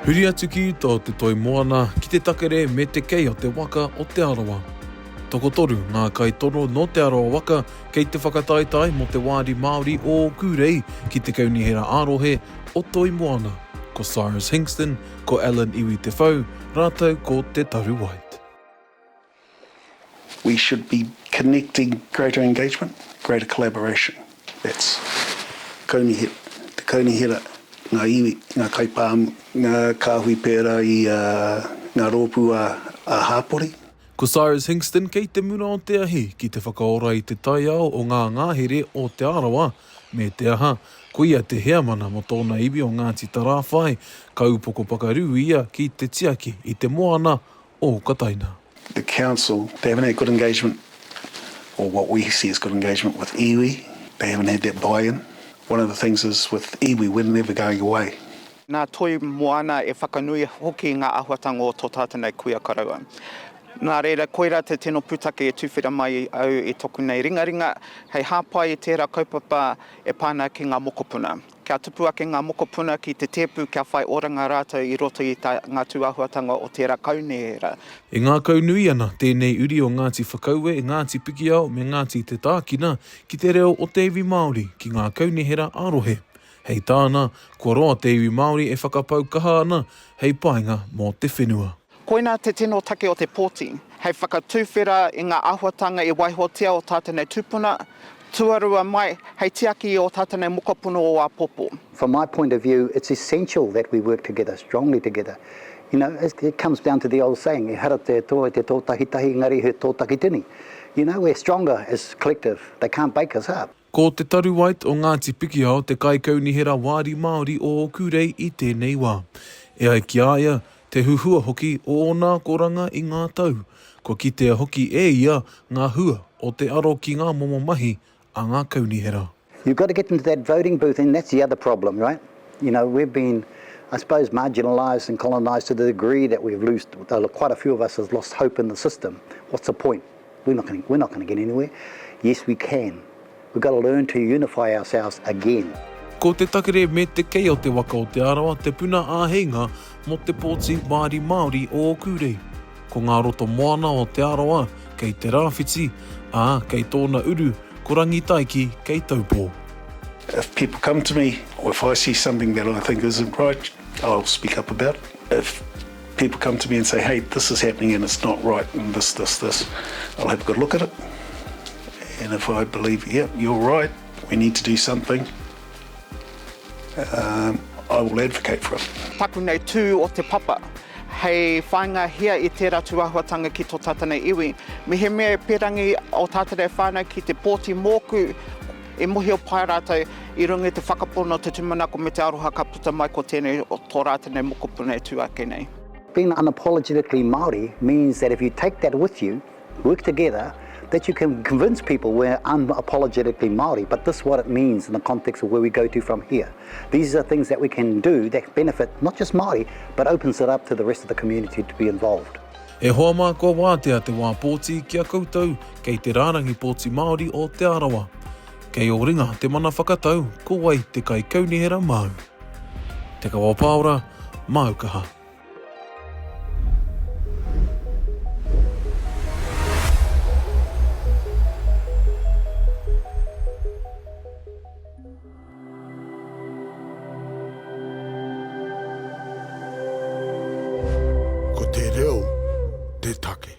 Huri atu ki uta o te toi moana, ki te takere me te kei o te waka o Te Arawa. Tokotoru ngā kaitono nō Te Arawa waka kei te whakataetae mō te wāri Māori o ōku rei ki te Kaunihera ā-Rohe o Toi Moana, ko Cyrus Hinkston, ko Allan Iwi Te Whau rātou ko Te Taru White. We should be connecting greater engagement, greater collaboration. That's Kaunihera, te Kaunihera, ngā iwi, ngā kaipāmu, ngā kāhui pērā i ngā rōpū ā-hāpori. Ko Cyrus Hingston kei te mura o te ahi ki te whakaora i te taiao o ngā ngahere o Te Arawa, me te aha, ko ia te heamana mō tōna iwi o Ngāti Tarāwhai, ka upoko pakarū ia ki te tiaki i te moana o Okataina. The council, they haven't had good engagement or what we see as good engagement with iwi, they haven't had that buy-in. One of the things is with iwi, we're never going away. Nā Toi Moana e whakanui hoki ngā āhuatanga o tō tātou nei kuia koroua. Nā reira, koirā te tino pūtake e tuwhera mai au i toku nei ringaringa hei hāpai i tērā kaupapa e pā ana ki ngā mokopuna. Kia tupu ake ngā mokopuna ki te tēpu kia whai oranga rātou i roto i tā ngā tūāhuatanga o tērā kaunihera. E ngākaunui ana tēnei uri o Ngāti Whakaue, Ngāti Pikiao me Ngāti Te Tākina ki te reo o te iwi Māori ki ngā kaunihera ā-rohe. Hei tāna, kua roa te iwi Māori e whakapau kaha ana hei painga mō te whenua. Koina te tino take o te pōti, hei whakatuwhera i ngā āhuatanga i waihotia o tā tēnei tūpuna, tuarua mai, hei tiaki i ō tā tēnei mokopuna o āpōpō. From my point of view, it's essential that we work together, strongly together. You know, it comes down to the old saying, ehara te tō i te tō tahitahi, engari he tō takitini. You know, we're stronger as collective, they can't bake us up. Ko Te Taru White o Ngāti Pikiao te kaikaunihera wāri Māori o ōku rei i tēnei wā. E ai ki a ia, te huhua hoki o ōna akoranga i ngā tau, kua kitea hoki e ia ngā hua o te aro ki ngā momo mahi a ngā kaunihera. You've got to get into that voting booth and that's the other problem, right? You know, we've been, I suppose, marginalised and colonised to the degree that we've loosed, quite a few of us have lost hope in the system. What's the point? We're not gonna, we're not gonna get anywhere. Yes we can. We've got to learn to unify ourselves again. Ko te takere me te kei o te waka o Te Arawa te puna āheinga mō te pōti Wāri Māori o Ōkūrei. Ko ngā roto moana o Te Arawa kei Te Rāwhiti, ā, kei tōna uru ko Rangitaiki kei Taupō. If people come to me or if I see something that I think isn't right, I'll speak up about it. If People come to me and say, hey, this is happening and it's not right and this, this, this. I'll have a good look at it and if I believe, yep, yeah, you're right, we need to do something, um, I will advocate for it. Taku nei tū o te papa, hei whainga hia i tērā tūahuatanga ki tō tātana iwi. Mehemea e perangi o tātana e whānau ki te pōti mōku, I mohio pai ratou i runga i te whakapono o te tumanako me te aroha ka puta mai ko tenei to ra tenei mokopuna e tu ake nei. Being unapologetically Māori means that if you take that with you, work together, that you can convince people we're unapologetically Māori but this what it means in the context of where we go to from here. These are things that we can do that benefit not just Māori but opens it up to the rest of the community to be involved. E hoa mā kua wātea te wā pōti ki a koutou kei te rārangi pōti Māori o Te Arawa. Kei ō ringa te mana whakatau ko wai te kaikaunihera māu. Te Kawa Paora, māu kaha. Ko te reo te take.